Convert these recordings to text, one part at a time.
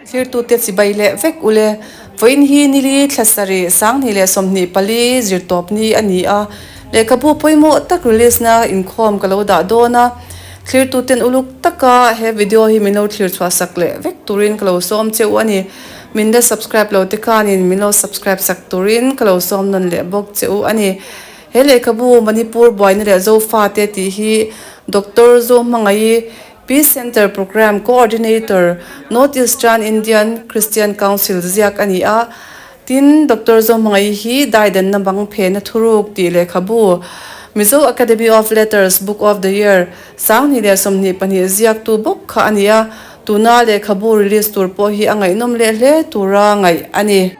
Thirtute chibai leh vek ule, vawiin hi nili thlasarih sanghnih leh sawmhnih pali zirtawp ni a ni a, lehkhabu pawimawh tak release na inkhawm ka lo dah dawn a, thirtuten uluk taka he video hi min lo thlir chhuah sak leh vek turin ka lo sawm cheu a ni, min la subscribe lo te khanin min lo subscribe sak turin ka lo sawm nawn leh bawk cheu a ni. He lehkhabu Manipur buaina leh Zofate tih hi Doctor Zo Hmangaii Peace Centre Programme Coordinator North Eastern Indian Christian Council ziak a ni a, tin, Doctor Zawhmangaih hi Daidanna Bang Phehna Thuruk tih lehkhabu, Mizo Academy of Letters Book of the Year, Sanghnih leh Sawmhnih pahnih ziaktu bawk kha a ni a, tuna lehkhabu release tur pawh hi a ngaihnawm leh hle tura ngaih a ni.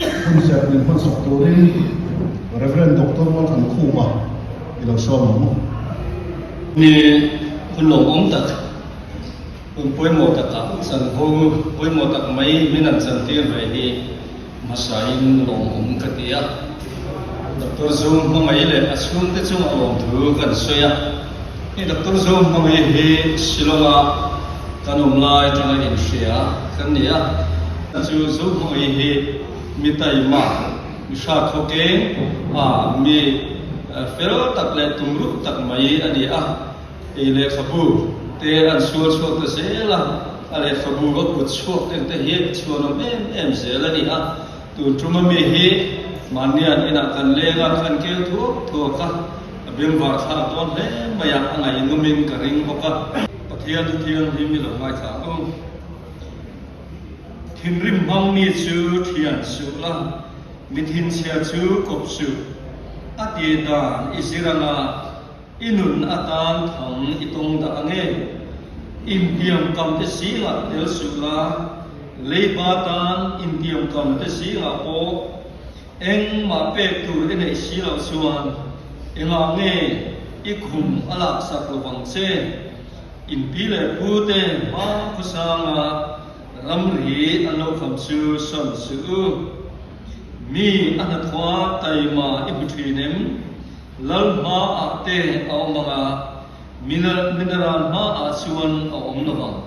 Hun serhnin hmansawk turin Rev. Doctor Wal Kan Khupa i lo sual ang maw? Mi hun lawmawm tak, hun pawimawh taka chan ho, pawimawh tak mai min an chan tir ve hi hmasain lawmawm ka ti a. Doctor Zung hmangaih leh a chhungte chung a lawmthu kan sawi a. Hei doctor zawng ho hi hi Shillong a kan awm lai atanga inhria kan ni a, a chu zawng ho hi hi mi taima mi hra khawkeng a mi fel tak leh tum ruh tak mai a ni a, ei lehkhabu te an sual chhuak ta zel a, a lehkhabu va kut chhuak eng te hi a chhuanawm em em zel a ni a. Tur tuma mi hi mahnian inah kan leng a, an keu thuak thuak a, a bemvar thlak dawn hle mai a, a ngainumin ka ring bawk a. Pathian Thu Thiang hi mi lo ngaithla u, thinrim hmang mi chu thian suh la, mi thinchhia chu kawp suh, a ti dan i zir anga. I nun atan thawng i tawng dah ange? Intiam kamte singah tel suh la, leipa tan intiam kamte singah pawh engmah pek tur i neih si loh chuan engah nge i khum a lak sak lo ang che? Inpi leh pu te hma khawsanga ramri an lo kham chu sawn suh u. Mi a hnathua taima i hmu thin em? Lalhma ah te a awm ang a, mineral hma ah chuan a awm lo vang.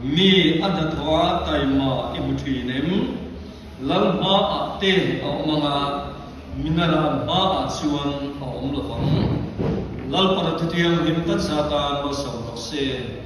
Mi a hnathawh a taima i hmu thin em? Lalhma ah te a awm ang a, mineral hma ah chuan a awm lo vang. Lalpara thutiang hlim takzah tan lo sam rawh se.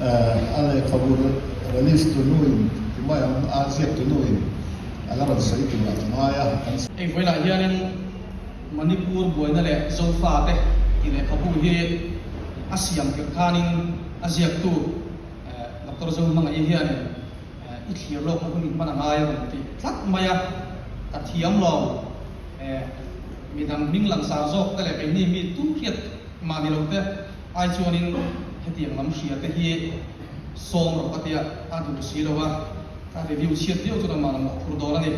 A lehkhabu release tunu in tumai ang a ziak tunu in a la rawn sawi tur a ti ngai a, kan sawi. Heng velah hianin Manipur buaina leh zofate tih lehkhabu hi a siam tirh khanin a ziaktu Doctor Zo hmangaih hianin i thlir lawk ka hun in hman a ngai a rawn ti tlat mai a, ka thiam lo midang hming langsar zawkte leh keini mi tumhriat mahni lote. Ai chuanin hetiang lam hria te hi sawm rawh ka tia a duh si lo a, ka review chhiat viau chu kan mah lam loh phur dawn a ni.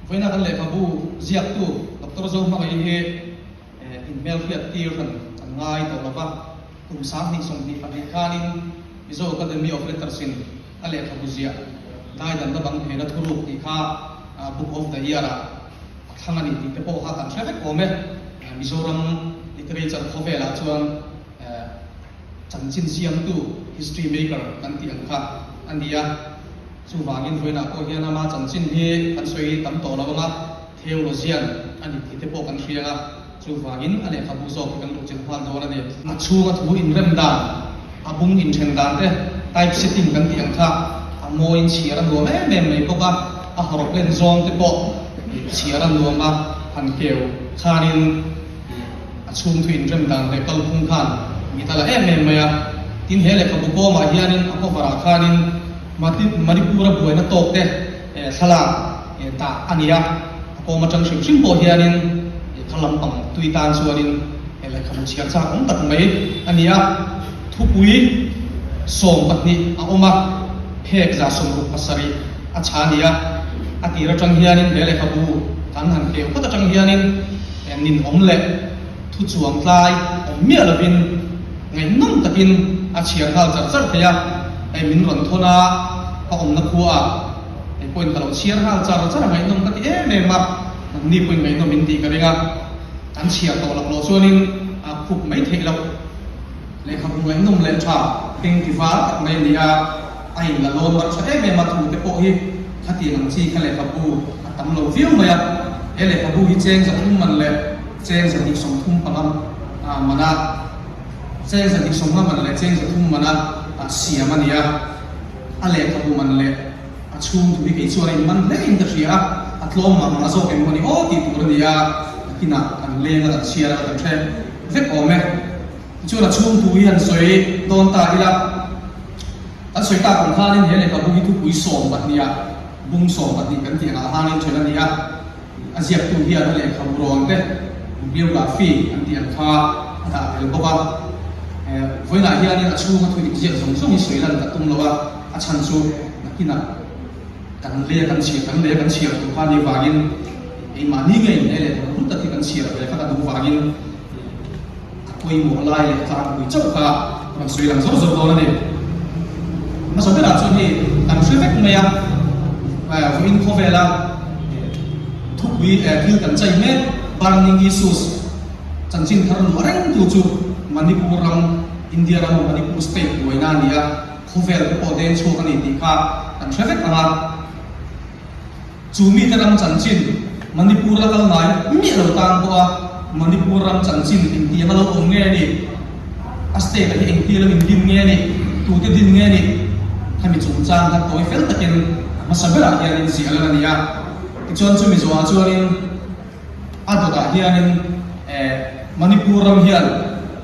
Vawiinah kan lehkhabu ziaktu Doctor Zo hmangaih hi in hmel hriat tir han kan ngai tawh lo va, kum sang hnih sawm hnih pahnih khanin Mizo Academy of Letters in, a lehkhabu ziah ngaidamna bang hmela thuruk tih kha Book of the Year-a a thlang a ni tih te pawh kha kan hre vek awm e. Mizoram literature khawvelah chuan chanchin siamtu, history maker, kan tih ang kha a ni a. Chuvangin Ruina pawh hian ama chanchin hi kan sawi tam tawh lo ang a. Theologian, a ni tih te pawh kan hriang a, chuvangin a lehkhabu zawk hi kan luk chin nghal dawn a ni. A chhunga thu inrem dan, a bung inthen dan te, typesetting kan tih ang kha, a mawiin chhiar a nuam em em mai bawk a, a haw rawk len zawng te pawh chhiar a nuam a, han keu khanin a chhung thu inrem dan leh kal phung khan mit a la em em mai a, tin he lehkhabu kawmah hianin a cover ah khanin Manipura buaina tawk te, Thlalak ta a ni a, a kawm atang hrim hrim pawh hianin kha lampang tui tan chuanin lehkhabu chhiar chak awm tak mai a ni a, thupui sawm pahnih a awm a, phek za sawm ruk pasarih a chha a ni a, a tir atang hianin he lehkhabu kan han keu phawt atang hianin ninawm leh thuchuang tlai awm miah lovin, Ngaihnawm takin a chhiar nghal char char phei a, hei min rawn thawn a, ka awmna khuaah hei pawhin ka lo chhiar nghal char char a, ngaihnawm ka ti em em a, hmanni pawhin ngaihnawm in tih ka ring a, kan chhiar tawh laklawh chuanin a khup mai theih loh. Lehkhabu ngaihnawm leh tha hring tiva tak mai a ni a, a in la lawn rak tha em em a, thute pawh hi khatiang ang chi kha lehkhabu a tam lo viau mai a, he lehkhabu hi cheng zawk um man le. Chengza dik sawm thum panga ah man a, chengza dik sawmnga man leh chengza thum mana ah siam a ni a. A lehkhabu man leh a chhungtu hi kei chuan a inman hle in ka hria a, a tlawm mah mah zawk emaw ni aw tih tur a ni a, akinah kan leng a kan chhiar a, kan hrem vek awm e. Tichuan a chhungtu hi an sawi dawn ta ila, an sawi tak ang khanin he lehkhabu hi thupui sawm pahniha bung sawm pahnih kan tih ang ah hangin chhun a ni a. A ziaktu hian a lehkha burawn te biography an tih ang kha a dah tel bawk a. Vawiinah hianin a chhunga thu inziak zawng zawng hi sawi lan ta tum lo a, a chhan chu nakinah kan leh kan chhiar, kan leh kan chhiar tur kha a nih vangin keimahni nge inneih leh tur rum tak hi kan chhiar ve kha ka duh vangin. pawimawh lai leh tlangpui chauh kha rawn sawi lang zauh zauh dawn a ni. Hmasa berah chuan hei kan hre vek mai a, vawiin khawvela thupui thil kan chai hmel burning issues chanchin thar luh a reng tu chu Manipur ram, India ram Manipur state buaina a ni a, khawvel te pawh deng chhuak a ni tih kha kan hre vek ang a. Chu mite ram chanchin Manipur la kal ngai miah lo tan pawh a, Manipur ram chanchin intiang a lo awm nge ni? A state-ah hi engtir lam in din nge ni? Tute din nge ni? Khami chungchang kha tawi fel takin hmasa berah hianin ziah lan a ni a. Tichuan chu Mizoah chuanin a dawtah hianin eh Manipur ram hian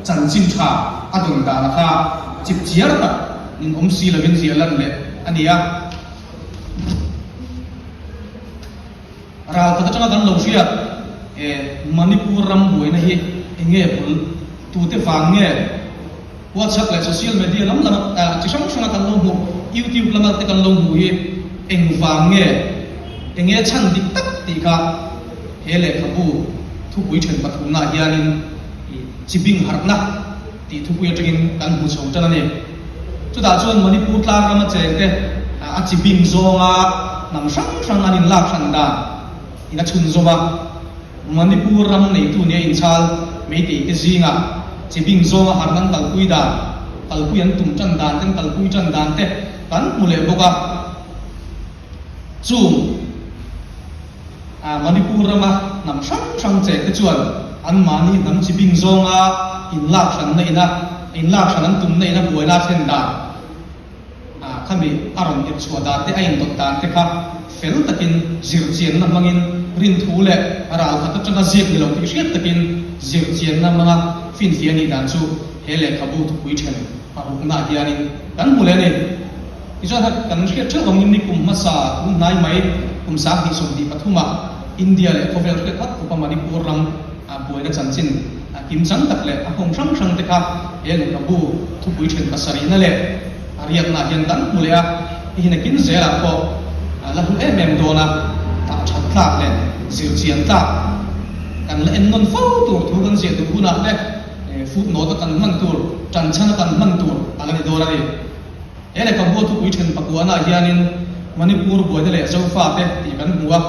chanchin tha a dawn dan a kha chip chiar tak min awm si lovin ziah lan leh a ni a. Ral khat atanga kan lo hriat e Manipur ram buaina hi enge bul tute vang nge WhatsApp leh social media lam lama chi hrang hranga kan lo hmuh YouTube lama te kan lo hmuh hi eng vang nge enge chhan dik tak tih kha he lehkhabu thupui then pathumna hianin chi bing harhna tih thupui atangin kan hmu chho tan a ni. Chutah chuan Manipur tlang rama chengte a chi bing zawnga hnam hrang hrang an inlak hran dan in a chhun zawm a, Manipur ram neitu nia inchal Meiteite zinga chi bing zawnga harh an kalpui dan, kalpui an tum tan dan te an kalpui tan dan te kan hmu leh bawk a. Chung. Manipur rama hnam hrang hrang cheh te chuan an mahni hnam chi bing zawnga in lak hranna ina in lak hran an tumna ina buaina thlen dan kha mi a rawn ep chhuah dan te a in dawt dan te kha fel takin zir chianna hmangin rin thu leh ral khat atanga ziak ni lo tih hriat takin zir chianna hmanga finfia nih dan chu he lehkhabu thupui then a rukna ah hianin kan hmu leh a ni. Tichuan hak kan hriat theuh vangin ni kum hmasa kum hnai mai kum sang hnih sawm hnih pathuma India leh khawvel hriat hak upa Manipur ram buaina chanchin kim chang tak leh a hmawm hrang hrangte kha he lehkhabu thupui then pasarihna leh a riakna hian kan hmu leh a, i hi nakin zelah pawh la hmu em em dawn a dah that tlak leh zir chian tlak kan la en nawn fo tur thu kan ziah duh hunah te footnote a kan hman tur tanchhana kan hman tur a la ni dawn a ni. He lehkha bua thupui then pakuahnaah hianin Manipur buaina leh Zofate tih kan hmu a,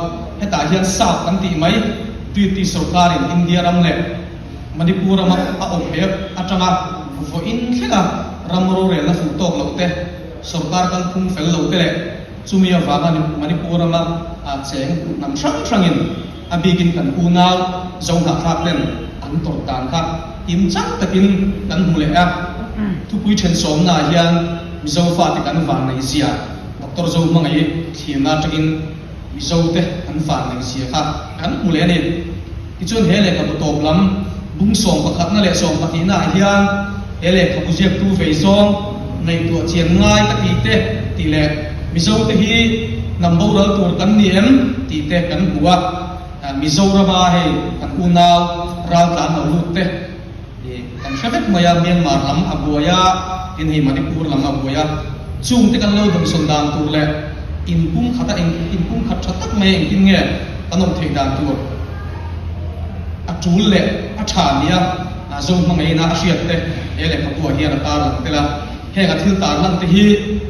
hetah hian Sap kan tih mai. Treaty sorkarin India ram leh Manipur rama a awp heh atanga vawiin thlenga ram rorelna fuh tawk loh te, sorkar kal phum fel lo te leh chumi avanga Manipur rama cheng hnam hrang hrangin, a bikin kan unau zo hna kha ten an tawrh dan kha tim chang takin kan hmu leh a. Thupui then sawmnaah hian Mizo fate kan van nei zia doctor zo hmangaih thlirna atangin Mizo te an van nei zia kha kan hmu leh a ni. Tichuan he lehkhabu tawp lam bung sawm pakhatna leh sawm pahnihnah hian, He lehkhabu ziaktu vei zawng ngaihtuah chian ngai a ti teh ti leh Mizote hi hnam boral tur kan ni em ti te kan hmu a, Mizorama hei kan unau ral tlan lo lut te hi kan hre vek mai a, Myanmar lam a buai a, tin hei Manipur lam a buai a, chung te kan lo dumsawn dan tur leh in pumkhat a eng in pumkhat tha tak mai a engtin nge kan awm theih dan tur a tul leh a tha nia. A zawng hmangaihna a hriat te he lehkhapuah hian a tar lang tel a, heng a thil tar lang te hi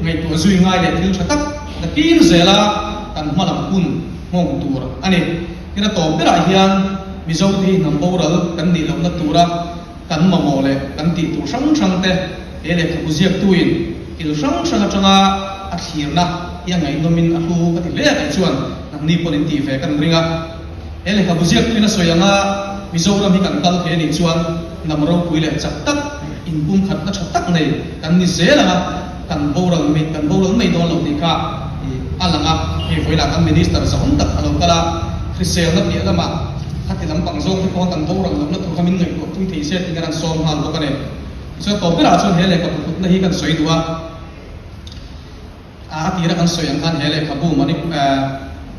ngaihtuah zui ngai leh thil tha tak na kir zela kan hma lam hun nghawng tur a ni. Tin a tawp berah hian Mizote hi hnam boral kan nih lohna tura kan mamawh leh kan tih tur hrang hrang te he lehkhabu ziaktuin thil hrang hrang atanga a thlirna hi a ngaihnawmin a hlu ka ti hle a tih chuan nangni pawhin tih ve ka ring a. He lehkhabu ziak hlina sawi anga Mizoram hi kan kal theih anih chuan hnam ropui leh chak tak, inpumkhatna tha tak nei kan ni zel ang a, kan boral mai kan boral mai dawn lo tih kha a lang a. Hei vawilah kan Minister zahawm tak a lo kal a, Hriselna piah lama khati lampang zawk hi khawnga kan boral lohna tur kha min ngaihtuah pui thei se tiin a rawn sawm nghal bawk a ni. Tichuan tawp berah chuan he lehkhabu kutna hi kan sawi duh a. A a tirah kan sawi ang khan he lehkhabu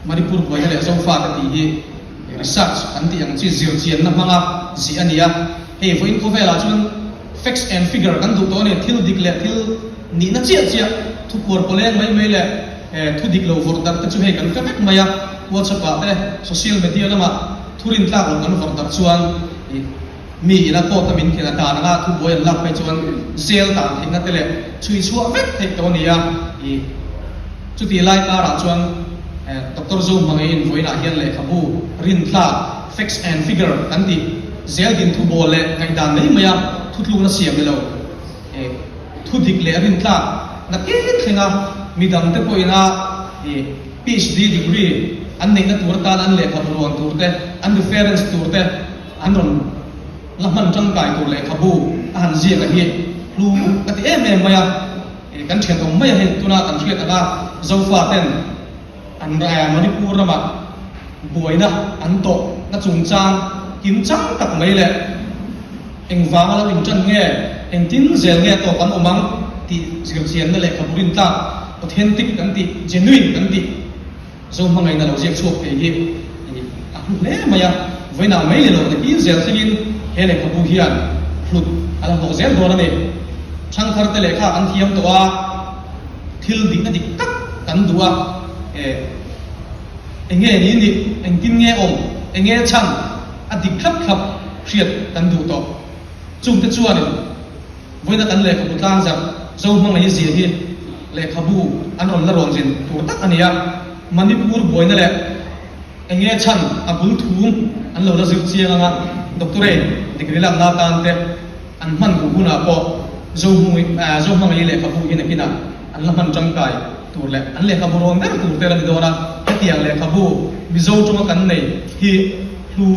Manipur buaina leh zofate tih hi research an tih ang chi zir chianna hmanga zih a nia. Hei vawiin khawvelah chuan facts and figure kan duh tawh a ni, thil dik leh thil nihna chiah chiah, thupuar pawleng mai mai leh thu dik lo vawrh darh te chu hei kan fe vek mai a, WhatsApp ah te social media lamah thurintlak lo kan vawrh darh chuan. Mi ina court-a min khelh a dan anga thu buai an lak phei chuan jail dan theihna te leh chhui chhuah vek theih tawh a ni a, i. Chutih lai karah chuan Doctor Zo hmangaih invawiinah hian lehkhabu rintla, facts and figure, kan tih jail din thu bawl leh ngaih dan mai maia thutlukna siam ni lo, i. Thu dik leh rintlak na keng thlenga mi dang te pawh ina, i. PHD degree an neihna tur atan an lehkhabu luan tur te, an reference tur te An rawn la hman tangkai tur lehkhabu a han ziak a hi hlu ka ti em em mai a, kan thian awm mai a hi tuna kan hriat ang a, Zofa ten an ra a Manipur rama buaina an tawh na chungchang kim chang tak mai leh engvang a lo intan nge engtin zel nge tawh kan awm ang tih zirchianna lehkhabu rintlak authentic kan tih genuine kan tih. Zo hmangaihna lo ziak chhuak thei hi i ni a hmu hle mai a. Vawiinah mai leh lo te kil zel thlengin he lehkhabu hian hlut a la hlawh zel dawn a ni. Thangthar te leh kha an thiam tawh a, thil dikna dik tak kan duh a, eh, enge ni nih, engtin nge awm, enge chhan, a dik thlap thlap hriat kan duh tawh. Chungte chuanin Vawiina kan lehkhabu tlangzarh zo hmangaih zia hi lehkhabu an rawn la rawnzin tur tak a ni a, Manipur buaina leh eng nge chhan a bul thum an lo la zir chiang ang a, doctorate degree lakna atante an hman duh hunah pawh zo zo hmangaih lehkhabu hi nakinah an la hman tangkai tur leh an lehkhabu rawn ber tur te a la ni dawn a, hetiang lehkhabu Mizo tawnga kan nei hi hlu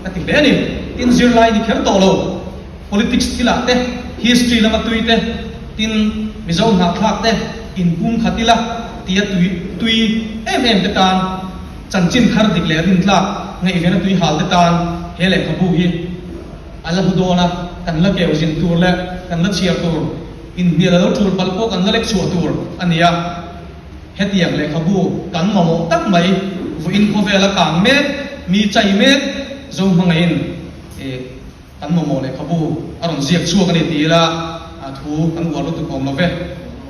ka ti hle a ni, tin zirlai ni kher tawh lo. politics thil ah te, history lama tui te, tin Mizo hnakthlak te in pum khat ila tia tui tui em em te tan chanchin khar dik leh rintlak ngaihven a tui hal te tan he lehkhabu hi a la hmu dawn a, kan la keu zin tur leh kan la chhiar tur, in hnial a lo tul palh pawh kan la lek chhuah tur a ni a. Hetiang lehkhabu kan mamawh tak mai, vuiin khawvel a kang mek, mi chai mek, zo hmangaihin e. Kan mamawh lehkhabu a rawn ziak chhuak a ni ti ila a thu kan uar lutuk awm love.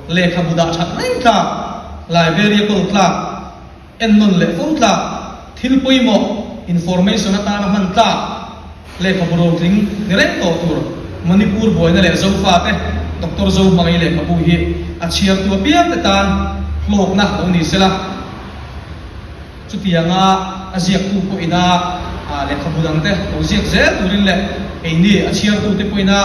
Lehkhabu dah that reng tlak, Liberia kawl tlak, en nawn leh fo tlak, thil pawimawh, information, atana hman tlak, lehkhabu rotling ni reng tawh tur, Manipur buaina leh Zofate, Doctor Zo hmangaih lehkhabu hi a chhiartu a piangte tan hlawkna lo ni sela. Chutianga a ziaktu pawhina lehkhabu dangte lo ziak zel turin leh keini a chhiartute pawhina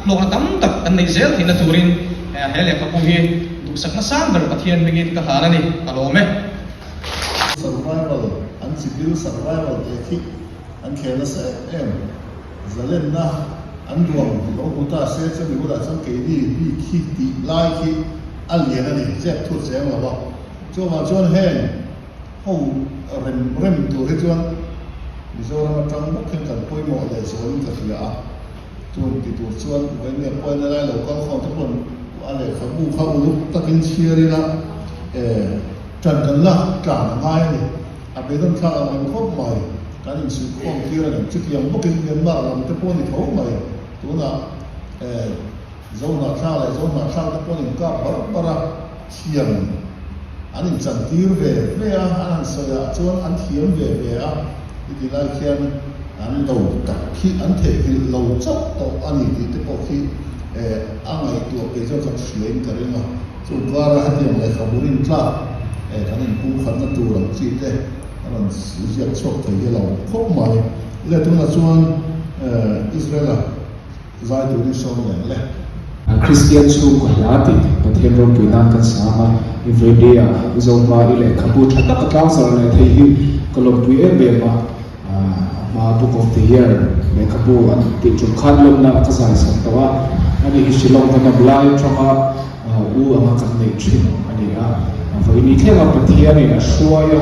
hlawkna tam tak an neih zel theihna turin he lehkhabu hi duhsakna sang ber Pathian hmingin ka hlan a ni, ka lawm e. Survival, an chikil survival teh thik an khel nasa em em. Zalenna an duang tih lo hmu ta se chumi bulah chuan keini mi khi tih lai khi a lian a ni, chep thu a cheng lo a. Chuvang chuan heng. ho rem rem tur hi chuan Mizoram atang vak hian kan pawimawh leh zawh in ka hria a, chuan ka ti tur chuan u eng nge pawi nalai lo kal khawnte pawn a lehkhabu kha uluk takin chhiar in a e tan kan la tlan a ngai a ni, a be dawn thlak ang reng khawp mai, kan in suih khawm tir a ni, chutiang bawkin Myanmar lamte pawh a ni tho mai tunah e. Zohna thla leh zohna thla te pawh an inkap bar bar a, thiam an inchantir ve hle a, an han sawi ah chuan an thiam ve ve a, hetilai khian an do tak khi an thehkilh lo chauh tawh a ni tih te pawh khi a ngaihtuah pei zawk kan hriain ka ring a, chung kar a hetiang lehkhabu rin tlak kan inkung khatna tur ang chi te a rawn ziak chhuak thei hi a lo khawp mai, leh tunah chuan Israel a. Vai tur hi sawi lian le. Kristian chhung ka hla a tih Pathian rawngpui nan kan sang a, i vaimbei a, i zohma, i lehkhabu tha taka tlang zarh leh thei hi ka lawmpui em em a, a hma Book of the Year lehkhabu an tih ṭum khan lawmna a ka zaisawm tawh a, ani hi Shillong ka nawm lai aṭanga u anga kan neih ṭhin a ni a, vaini thlengah Pathianin a hruai a.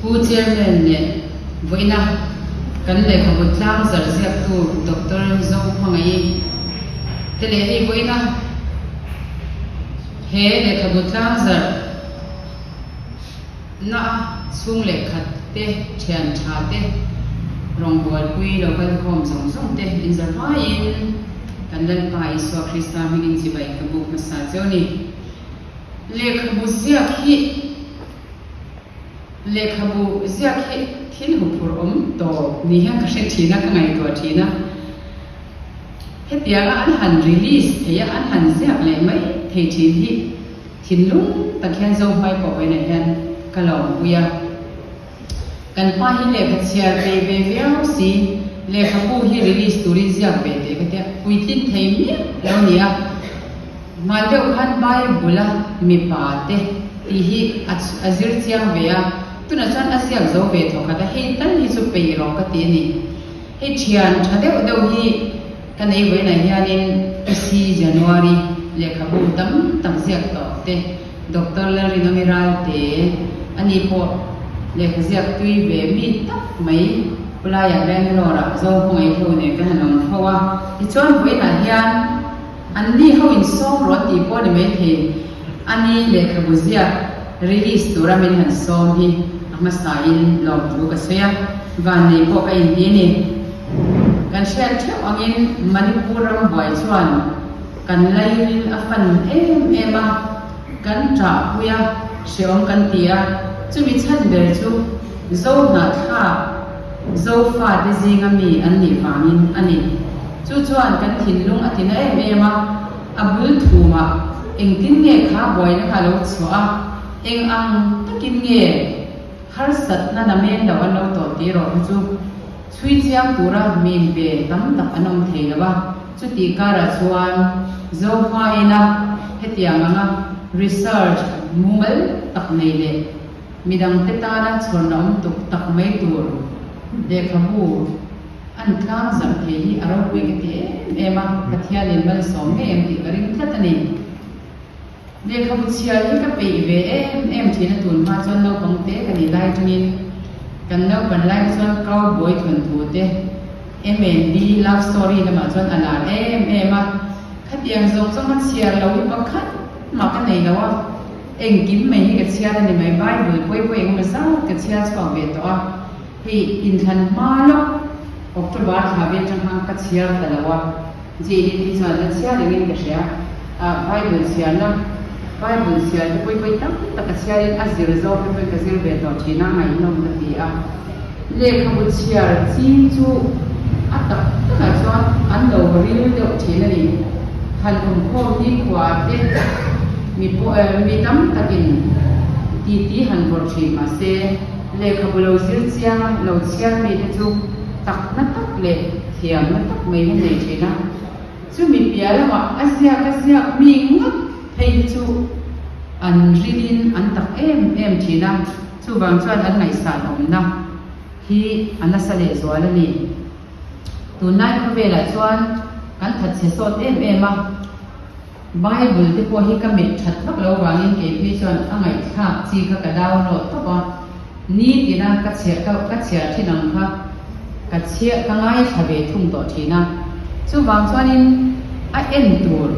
Pu Chairman leh vawiina kan lehkhabu tlang zarh ziaktu Doctor Zo hmangaih te leh i vawiina he lehkhabu tlang zarh na chhung leh khat te thian tha te rawng buaipui lo kal khawm zawng zawng te in za hmaiin kan Lalpa Isua Krista hming in chibai ka buk hmasa cheu ni. Lehkhabu ziak hi. Lehkhabu ziak hi thil hu phur awm tawh ni hian ka hre thin a, ka ngaihtuah thin a. Hetianga an han release theih a, an han ziak leh mai thei thin hi thinlung tak hian zo hmai pawh vawiinah hian ka lawmpui a. Kan pa hi lehkha chhiar tei ve viau si, lehkhabu hi release turin ziak ve teh ka tia, puitlin thei miah lo nia. Hmai deuh khan Bible-a mipa te tih hi a zir chiang ve a, tunah chuan a ziak zo ve tawh khat a, hei tal hi chu pei rawh ka ti a ni. Hei thian tha deuh deuh hi ka nei vawiinah hianin Isi, January, lehkhabu tam tak ziak tawh te, Doctor Larry Namiral te ani pawh lehkha ziak tui ve mi tak mai. Khulaiah Bangalore-ah zawng ka ngaihlo nen ka han awm tho a, tichuan vawiinah hian. An ni ho in sawm rawh tih pawh ni maithei a ni lehkhabu ziak release tura min han sawm hi a hmasa in lawm thu ka sawi a, van nei pawh ka inti a ni. Kan hriat theuh angin Manipur ram buai chuan kan laiin a fan em em a, kan ṭahpui a hreawm kan ti a, chumi chhan ber chu Zohna thlak, Zofate zinga mi an nih vangin a ni. Chu chuan kan thinlung a tina em em a, a bul thumah engtin nge kha buaina ka lo chhuah a, eng ang takin nge harsatna na men lo an lo tawh tih erawh kha chu chhui chiang tura min pe tam tak an awm thei lo a, chutih karah chuan Zofa ina hetiang anga research mumal tak nei leh. Midang te tana chhuarna awm tuk tak mai tur lehkhabu a ni tlang zarh thei hi a ropuih ka ti em em a, Pathianin malsawm ngei ang tih ka ring tlat a ni. Lehkhabu chhiar hi ka peih ve em em thin a tun hma chuan naupang te ka nih lai tawngin kan naupan lai hi chuan cowboy thawn thu te, MNB love story lamah chuan a lar em em a, khatiang zawng zawng a chhiar lo hi pakhat mah ka nei lo a. Engkim mai hi ka chhiar a ni mai, Bible puai puai engemaw zat ka chhiar chhuak ve tawh a, hei inthlan hma lawk October thla vel changkang ka chhiar ta lo a, Jane in hi chuan ka chhiar engin ka hria, ah Bible chhiarna, Bible chhiarte puai puai tam tak ka chhiarin a zir zawk te pawhin ka zir ve tawh thin a, ngaihlawm ka ti a. Lehkhabu chhiar ching chu a tak takah chuan an lo ril deuh thin a ni. Han awmkhawm nikhua te mi mi tam takin titi han vawrh thin mah se, lehkhabu lo zir chiang a, lo chhiar mi te chu takna tak leh thiamna tak mai hi nei thin a. Chumi piah lamah a ziak a ziak mi ngawt phei hi chu an rilin an tak em em thin a. Chuvang chuan an ngaihsan awmna hi a nasa lehzual a ni. Tunlai khawvelah chuan kan that chhe sawt em em a. Bible te pawh hi ka met that vak lo vangin keiphei chuan a ngaihthlak chi kha ka download tawp a. Ni tina ka chhiah ka ka chhiar thin ang kha ka chhiah ka ngaithla ve thung tawh thin a. Chuvang chuanin a en tur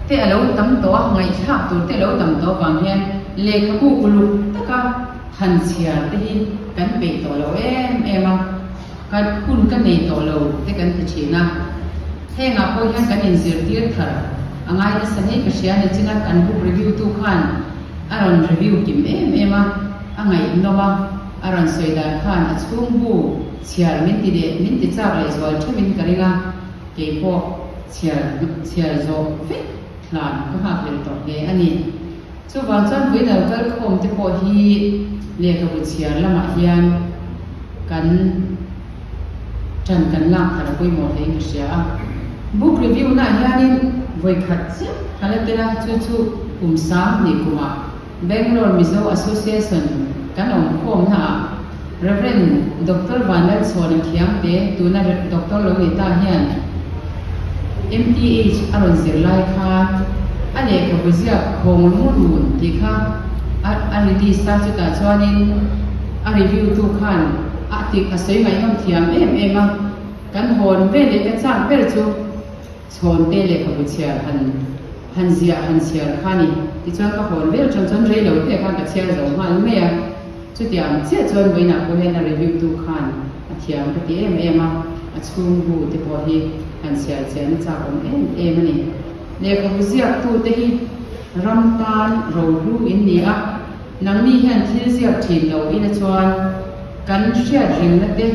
te a lo tam tawh a, ngaithlak tur te a lo tam tawh vang hian, Lehkhabu uluk taka han chhiar te hi kan peih tawh lo em em a, kan hun ka nei tawh lo te kan ti thin a. Hengah pawh hian kan inzirtir thar a ngai nasa ngei ka hria ni china kan book review tu khan a rawn review kim em em a, a ngaihnawm a, a rawn sawi dan khan a chhungbu chhiar min ti leh min ti chak leh zual ṭheuh in ka ring a, keipawh chhiar chhiar zawh vek thlan ka nghak leh tawh hle a ni. Chuvang chuan Buino kal khawm te pawh hi lehkhabu chhiar lamah hian kan tan kan lak ta lo pawimawh hle in ka hria a. Book review na hianin vawikhat chiah ka la tel a, chu chu kum sang hnih kumah Bangalore Mizo Association kan awm khawmnaah, Rev. Doctor Vanlal Suan an thiam te, tuna Doctor lo nei ta hian MTH a rawn zir lai khan a lehkha buziak Khawng Lung Run tih kha a release a, chutah chuanin a review tu khan a tik a sawi ngaihnawm thiam em em a, kan hawn vel leh ka chak ber chu. Chhawmte leh ka bu chhiar han han ziah han chhiar kha ni. Tichuan ka hawn ber ṭan chuan rei lo te khan ka chhiar zo nghal mai a. Chutiang chiah chuan vawiinah pawh hian a review tu khan a thiam ka ti em em a, a chhung bu te pawh hi kan chhiar chian na chak awm em em a ni. Lehkhabu ziak tu te hi ram tan rohlu in ni a. Nangni hian thil ziak thin lo i la chuan kan hriat ringna te,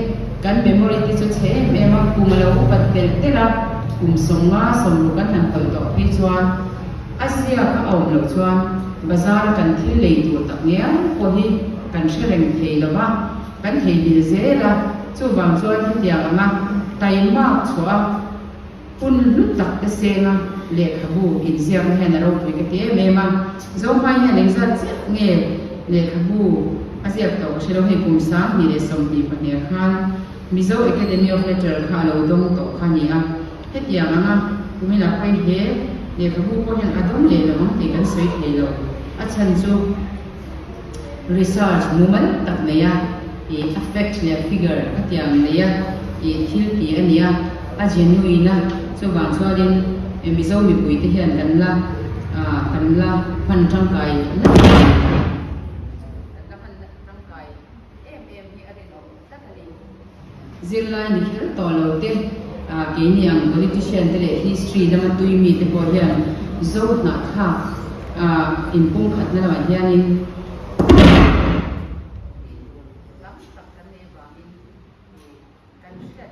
kan memory te chu chhe em em a, kum a lo upat telh telh a, kum sawm nga sawm ru kan han hawi tawh phei chuan a ziak a awm loh chuan bazar kan thil lei tur tak ngial pawh hi kan hre reng thei lo va, kan theibil zel a, chuvang chuan hetiang anga taimak chhuah a. Hun hlut tak te senga lehkhabu inziakna hian a ropui ka ti em em a. Zohmai hian engzat chiah nge lehkhabu a ziak tawh ka hrelo hei kum sang hnih leh sawm hnih pahniha khan Mizo Academy of Letter kha a lo dawng tawh kha ni a. Hetiang anga kumin a pawi hle, lehkhabu pawh hian a dawng leh lo ang tih kan sawi thei lo. A chhan chu. research mumal tak nei a ih a fact leh figure a tiang nei a ih thil tih a ni a, a genuine a, chuvang chuanin e Mizo mipui te hian kan la ah kan la hman tangkai hlek a ni. Zirlai ni kher tawh lo te, keini ang politician te leh history lama tui mi te pawh hian zo hnah thlak in pum khat na lamah hianin hriat theih tur tam tak kan nei vangin kan hriat.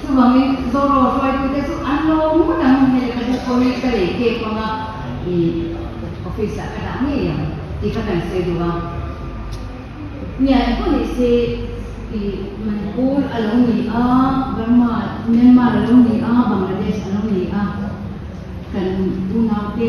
Chuvangin Zorro hruaitute chu an lo ngun ang a hmel ka buk pawhin ka lei kek vang a, i office ah ka dah ngei ang tih ka kan sawi duh a. Nia engkaw nih se i Manipur a lo ni a, Burma, Myanmar a lo ni a, Bangladesh a lo ni a, kan unaute,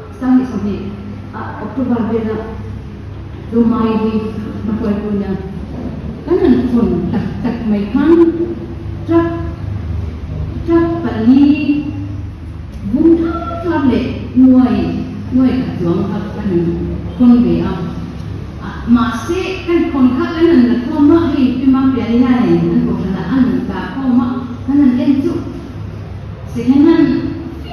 Sangi chawhmeh a October vela Lawmai hi hma hual tuna kan rawn chawn tak tak mai khan truck truck pali bum thar thar leh hnuai hnuai tak chuang kha kan rawn khawn ve a, mahse kan khawn kha kan rawn la khawm a hei Fema piali hianin an kohhranah a rawn tah khawm a kan rawn en chuh second hand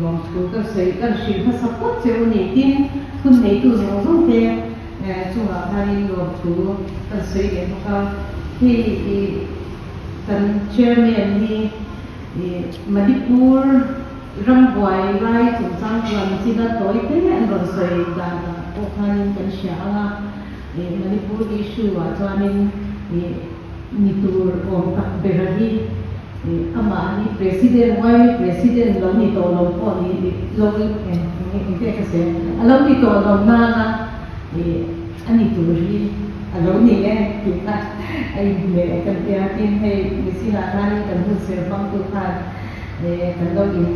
Lawmthu ka sawi ka hrilh hmasak pawt che u ni tin, phun neitu zawng zawng te chungah khanin lawmthu kan sawi leh bawk a, hei i kan Chairman hi i Manipur rambuai lai chungchang chuan China tawi te an rawn sawi dan ah pawh khanin kan hria ang a, i Manipur issue ah chuanin i. Ni tur awm tak bera hi amahni president Riley president lo ni tawh lo pawh ni lo engte ka seh a lo ni tawh lo nana a ni tur hi a lo ni e tih kha a inhmeh kan tia tin hei Messina atanin kan hun serpang tu khan kan lo in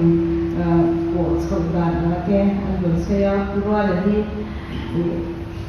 pawh chhoh dan ang ake an rawn sawi a Ruala hi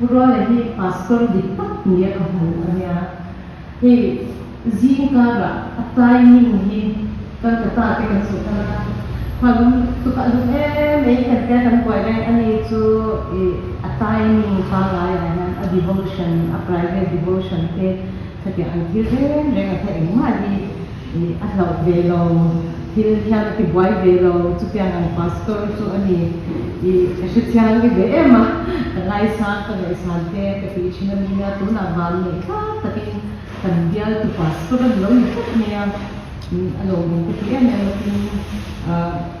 Ruale hi pastor dik tak ni a ka hmu a nia. Hei zingkarah a timing hi kan ka ta te kan suh khan a hmalam tuk a duh em mai kan tia kan buai reng a ni chu i a timing pangngai ah hian a devotion a private devotion te thatiang an thlir reng reng a hla engmah hi. I a hlauh ve lo, thil hian i buai ve lo, chutiang ang Pastor chu a ni. I ka hrechiang nge ve em a, ka ngaisang ka ngaihsan te ka tih thin a ni a, tunah van neih tlat takin kan bialtu Pastor a ni lo ni tlat mai a, a lawmawm ka ti em em a tin,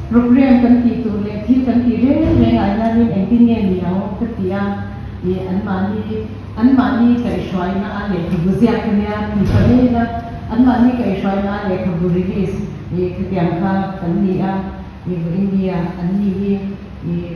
Programme kan tih tur leh thil kan tih reng reng ai hianin engtin nge ni ang ka ti a, ih anmahni anmahni kaihhruaina a lehkhabu ziak ka nia ti ta mai ila anmahni kaihhruaina a lehkhabu release ih khatiang kha kan ni a, ih India an ni hi ih.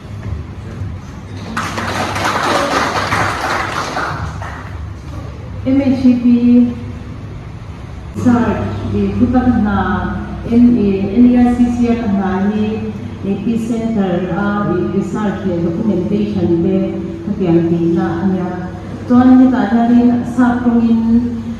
MHEP Surge i thu tak hna NA, NERCC a ka hna hi Epicentre a research leh documentation te khatiang tihna a nia. Chuan hetah hianin sap tawngin.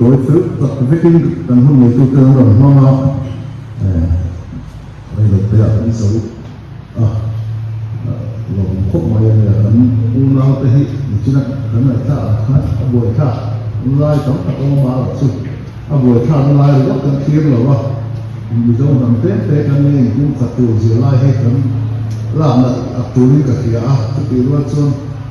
Tawi fel tak vekin kan hun neitute an rawn hmang a, eh, hei lo peiah kan sawi a, lawmawm khawp mai a nia, kan unau te hi nichinah kan ngaihtlak ang khan a buaithlak lai tam tak a awm a, ah chu a buaithlakna lai riau kan thlir lo a, Mizo hnam te te kan nia inkung khat tur zir lai hi kan lakna a turin ka hria a, chutih rual chuan.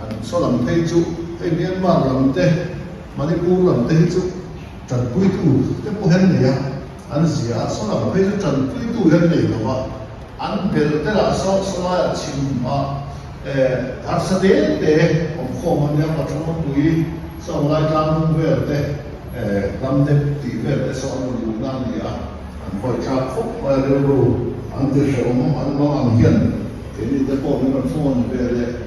An chaw lam phei chu hei Myanmar lam te Manipur lam te hi chu tanpui tu te pawh hian nei a an zia a, chaw lam phei chu tanpui tu hian nei lo a, an bel te lah saw sawlai ah chhim a harsa te te awm khawm a nia, Pachhawngmapui saw Awmlai tlang hnu vel te Hlamdep tih vel te saw an rawn luhna a ni a, an vawi tlak khawp mai a rilru an ti hrehawm an lo ang hian keini te pawh min rawn phone ve leh.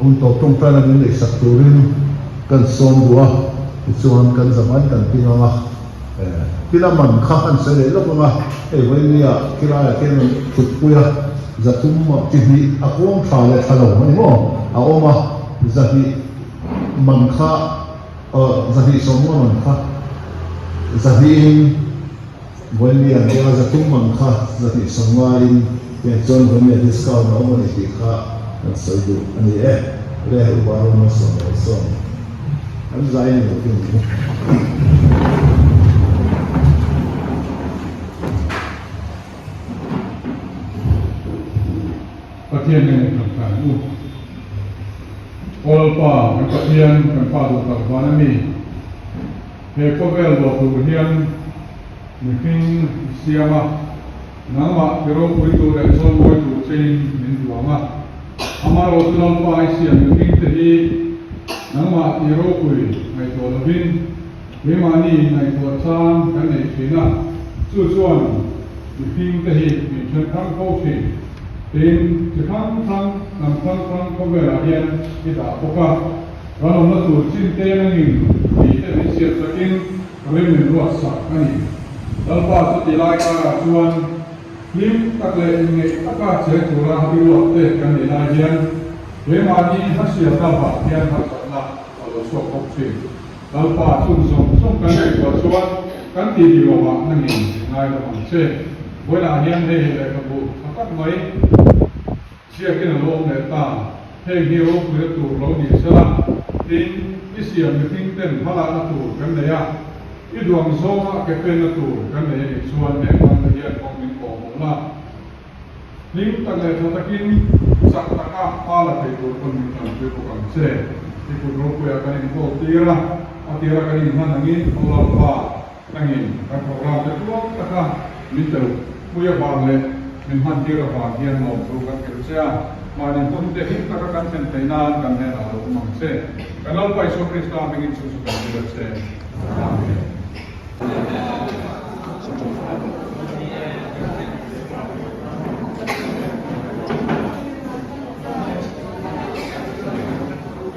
Hun tawp ṭawng tan an inneihsak turin kan sawm duh a, tichuan kan zamain kan ti ngang a, Kila man kha an sawi leh lawk ang a, hei vawinia Kilaiah khian an ṭhutpui a, Zathum mah ti hnih a huam ṭha leh ṭha lo a ni maw? A awm a, zahnih man kha, zahnih sawmnga man kha zahnihin, Vawinia hia zathum ang kha zatihsawn ngaiin heng chuan vawinia discount a awm a ni tih kha kan sawi duh a ni e. Rare upa rawng na sawn lo sawn kan zai ni lo ding Pathian nen a kan tlan u. Aw lalpa, kan Pathian, kan pa duhthar van a ni. He khawvel lo tur hian mi hming i siam a, nangmah ke ropui tur leh chawnmawi tur che in min buang a. Amarawh chu lampa i siam mi hming te hi nangmah tih ropui ngaihtuah lovin keimahni in ngaihtuah chang kan nei thin a, chu chuan mi hming te hi min then thlang fo thin tiin chi hrang hrang, hnam hrang hrang khawvelah hian i dah bawk a. Ralawmna tur chimte rengin thite min siam takin ri min ruat sak a ni. Lalpa chu ti lai karah chuan hlim tak leh inngeih taka cheng tura i ruat teh kan nih lai hian keimahni hasiam lamah hian hakhatna a lo sawk bawk thin. Lalpa chung zawng zawng kan nih rual chuan kan ti dihlawmah a ni ngailawm ang che. Buainah hian hei leh ka bu tha tak mai. Ziakin a lawm leh ta, hei hi ropui a tur lo ni se la, tin i siam mihring ten hma lana tur kan nei a, i duang zawnga ke fen na tur kan nei a nih chuan heng hman te hian kawng min awm awm la, hlim tak leh tha takin chak taka hma la thei tur pawn min tam pui bawk ang che, i kut ropuia kan inkawl tir a, a tir a kan inhman angin, Tho lalpa. Angin kan programme te tuak taka mico pui avang leh min hmantir avang hian lawm chu kan thlir che a, mahni hun te him taka kan thlen thei nan kan hnenah a lo awm ang che. Kan Lalpa Isua Krista mingin chu chu kan ti leh che. Amen.